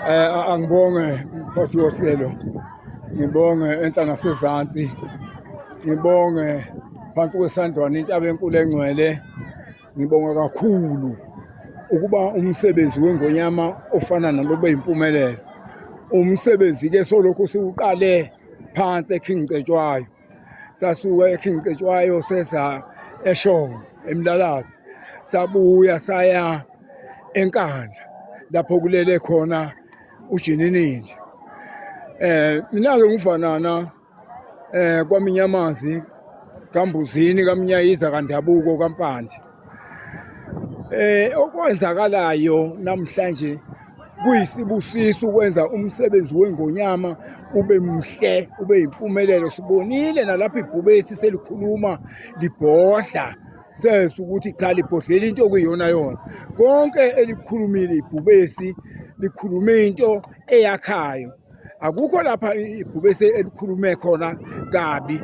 Eh angibonge mkhosi wohlelo. Ngibonge enhla nasezantsi. Ngibonge phansi kwesandlwana intaba enkulu engcwele. Ngibonga kakhulu ukuba umsebenzi wengonyama ofana nalobe impumelelo. Umsebenzi ke solokhu siwuqale phansi eKing Cetshwayo. sasuka eKing Cetshwayo seza eShowe eMlalazi sabuya saya eNkandla lapho kulele khona uJininindi eh mina ke ngifanana eh kwaminyamanzi kambuzini kamnyayiza kandabuko kampandla Eh okwenzakalayo namhlanje kuyisibusiso ukwenza umsebenzi wengonyama ube mhle ube yimpumelelo sibonile nalapha ibhubesi selikhuluma libhodla sense ukuthi cha libhodlela into okuyiyona yona konke elikhulumile ibhubesi likhulume into eyakhayo akukho lapha ibhubese elikhulume khona kabi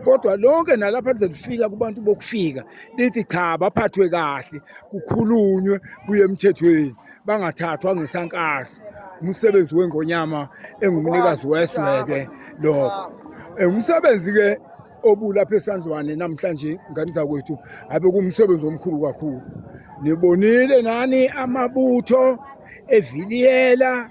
kodwa lonke nalapha lize lifika kubantu bokufika lithi cha baphathwe kahle kukhulunywe kuye emthethweni bangathathwa ngesankahla umsebenzi wengonyama engumnikazi wesweke lokho eh, umsebenzi-ke obulapha esandlwane namhlanje ngane zakwethu abe kumsebenzi omkhulu kakhulu nibonile nani amabutho eviliyela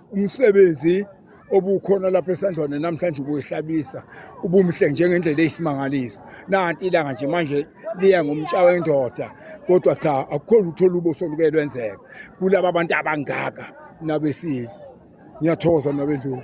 umsebenzi obukhona lapha esandlwane namhlanje ubuyihlabisa ubumhle njengendlela eyisimangaliso nanti ilanga nje manje liya ngomtsha wendoda kodwa cha akukho lutho lubo soluke lwenzeka kulaba bantu abangaka nabesile ngiyathokoza nabendlovu